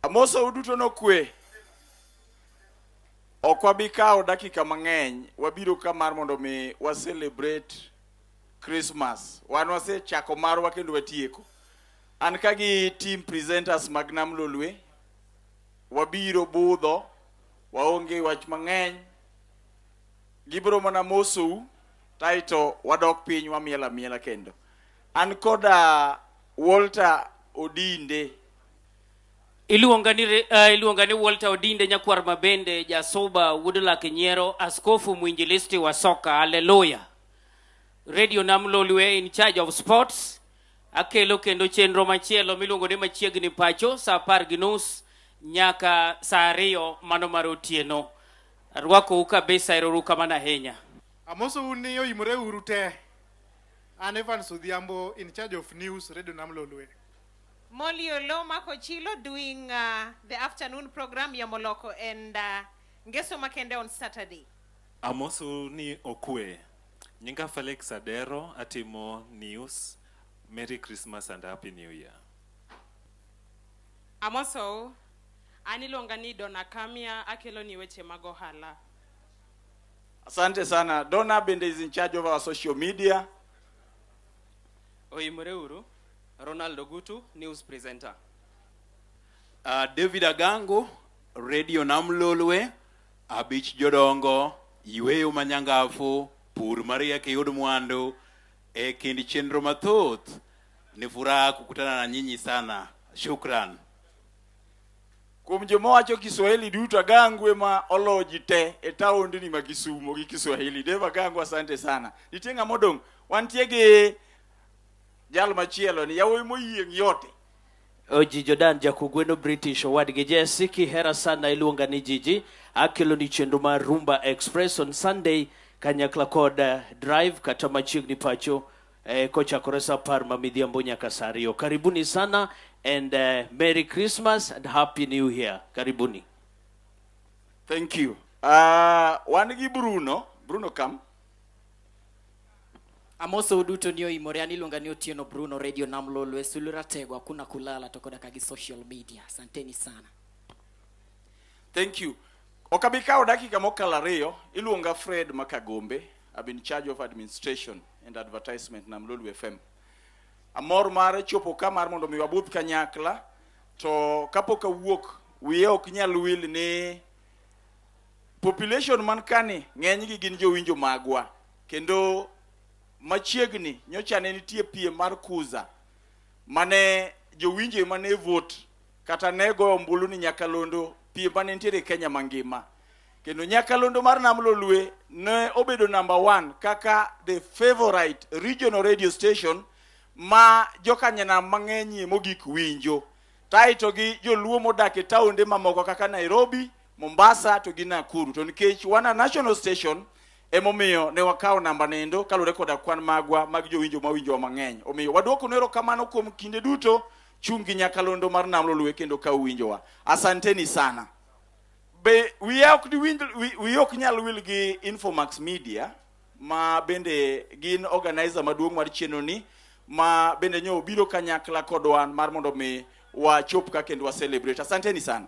Amosa uduto nokwe. Ok wabi kawo dakika mang'eny, wabiro ka mar mondo mi wa celebrate Christmas. Wan wasechako marwa kendo watieko. An ka gi team presenters mag Nam Lolwe, wabiro budho, waonge wach mang'eny. Gibiro mana mosou, taito wadok piny wamiel amiela kendo. An koda Walter Odinde. Iluonga ni, re- ah, iluonga ni Walter Odinde Nyakwar Mabende, Jasuba, Wuod Lak Nyiero, Askofu Mwinjilisti wa Soka. Haleluya! Radio Nam Lolwe in charge of sports. Akelo kendo chenro machielo miluongo ni machiegni pacho saa apar gi nus nyaka saa ariyo mano mar otieno. Arwakou kabisa, erouru kamano ahinya. Amosou ni oimore uru te. An Evans Odhiambo in charge of news Radio Nam Lolwe. Molly Oloo mako chilo doing uh, the afternoon program ya Moloko and uh, Ngeso Makende on Saturday. Amosu ni okwe. Nyinga Felix Adero atimo news. Merry Christmas and Happy New Year. Amoso, an iluonga ni Donna Kamia akelo ni weche mag ohala. Asante sana. Donna Bende is in charge of our social media. Oimore uru. Ronald Ogutu, news presenter. Uh, David Agango, Radio Namlolwe, Abich Jodongo, Yweyo Manyangafu, Pur Maria Kiyud Mwandu, e kindi chenro mathoth. Ni furaha kukutana na nyinyi sana. Shukran. Kuom joma wacho Kiswahili duto, Agangu ema olo ji te e taondni ma Kisumo gi Kiswahili. Dave Agangu, asante sana. Nitie ng'ama odong'? Wantie gi jal machielo ni yawuoyi moyieng' yote. Oji Jordan Jakugweno British owadgi Jesse kihera sana iluonga ni Jiji akelo ni chenro mar Rumba Express on Sunday kanyakla kod eh, Drive kata machiegni pacho eh, kochakore saa apar ma midhiambo nyaka saa ariyo karibuni sana and eh, merry christmas and happy new year karibuni Thank you. Uh, wan gi Bruno. Bruno come. amoso uduto ni oimore an iluonga ni otieno bruno radio nam lolwe sulu ratego hakuna kulala to koda ka gi social media asanteni sana Thank you. Ok abi kawo dakika mokalo ariyo. Iluonga Fred Makagombe. I've been in charge of administration and advertisement Nam Lolwe FM. Amor mar chopo ka mar mondo mi wabudh kanyakla to kapok awuok wiye ok nyal wil ni population man kani ng'enygi gin jowinjo magwa kendo machiegni nyocha ne nitie piem mar kuza mane jowinjo ema ne vote kata ne goyo ombulu ni nyakalondo piem mane nitiere Kenya mangima Kendo nyakalondo mar Nam Lolwe ne obedo namba one kaka the favorite regional radio station ma jokanyanam mang'enyie mogik winjo. Taito gi joluo modak e taonde mamoko kaka Nairobi, Mombasa to gi Nakuru. To nikech wan a national station emomiyo ne wakawo namba nendo kaluwore koda kwan magwa mag jowinjo mawinjowa mang'eny. Omiyo waduoko nero kamano kuom kinde duto chung' gi nyakalondo mar Nam Lolwe kendo ka uwinjowa. Asanteni sana. Be wiya ok diwinj wi- wiyi ok nyal wil gi Infomax Media ma bende gin organizer maduong' mar chenro ni ma bende nyo obiro kanyakla kodwa mar mondo mi wachop ka kendo wa celebrate. Asanteni sana.